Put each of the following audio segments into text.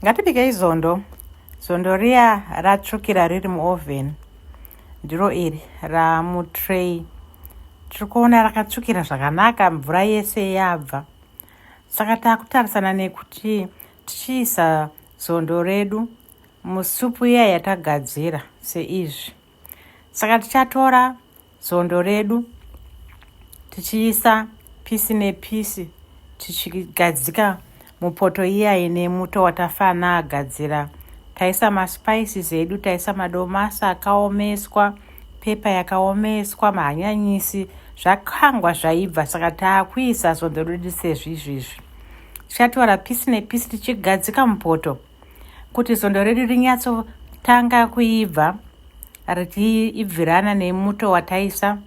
ngatibikei zondo zondo riya ratsvukira riri muoven ndiro iri ramutray tiri kuona rakatsvukira zvakanaka mvura yese yabva saka takutarisana nekuti tichiisa zondo redu musupu iya yatagadzira seizvi saka tichatora zondo redu tichiisa pisi nepisi tichigadzika mupoto iya ine muto watafana agadzira taisa maspices edu taisa madomasi akaomeswa pepa yakaomeswa mahanyanyisi zvakangwa zvaibva saka taakuisa zondo redu sezvizvizvi tichatora pisi nepisi tichigadzika mupoto kuti svondo redu rinyatsotanga kuibva richiibvirana nemuto wataisa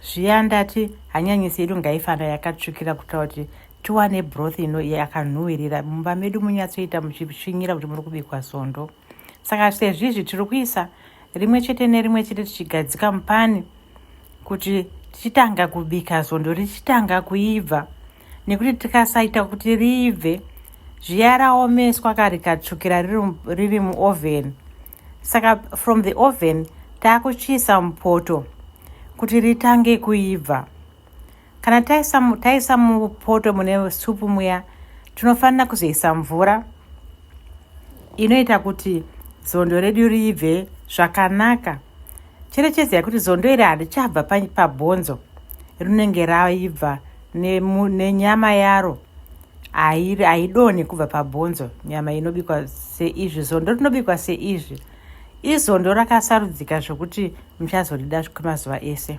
zviya ndati hanyanyisi yedu ngaifana yakatsvukira kuita kuti tiwane broth ino yakanhuwirira mumba medu munyatsoita muchisvinyira kuti muri kubikwa sondo saka sezvizvi tiri kuisa rimwe chete nerimwe chete tichigadzika mupani kuti tichitanga kubika zondo richitanga kuibva nekuti tikasaita kuti riibve zviya raomeswa ka rikatsvukira riri muoven saka from the oven taakuchiisa mupoto kuti ritange kuibva Kana taisa, taisa mupoto mune supu muya tinofanira kuzoisa mvura inoita kuti zondo redu riibve zvakanaka cherechedza yekuti zondo iri handichabva pabhonzo rinenge raibva nenyama ne yaro haidonhe kubva pabhonzo nyama inobikwa seizvi zondo rinobikwa seizvi izondo rakasarudzika zvekuti muchazorida kwemazuva ese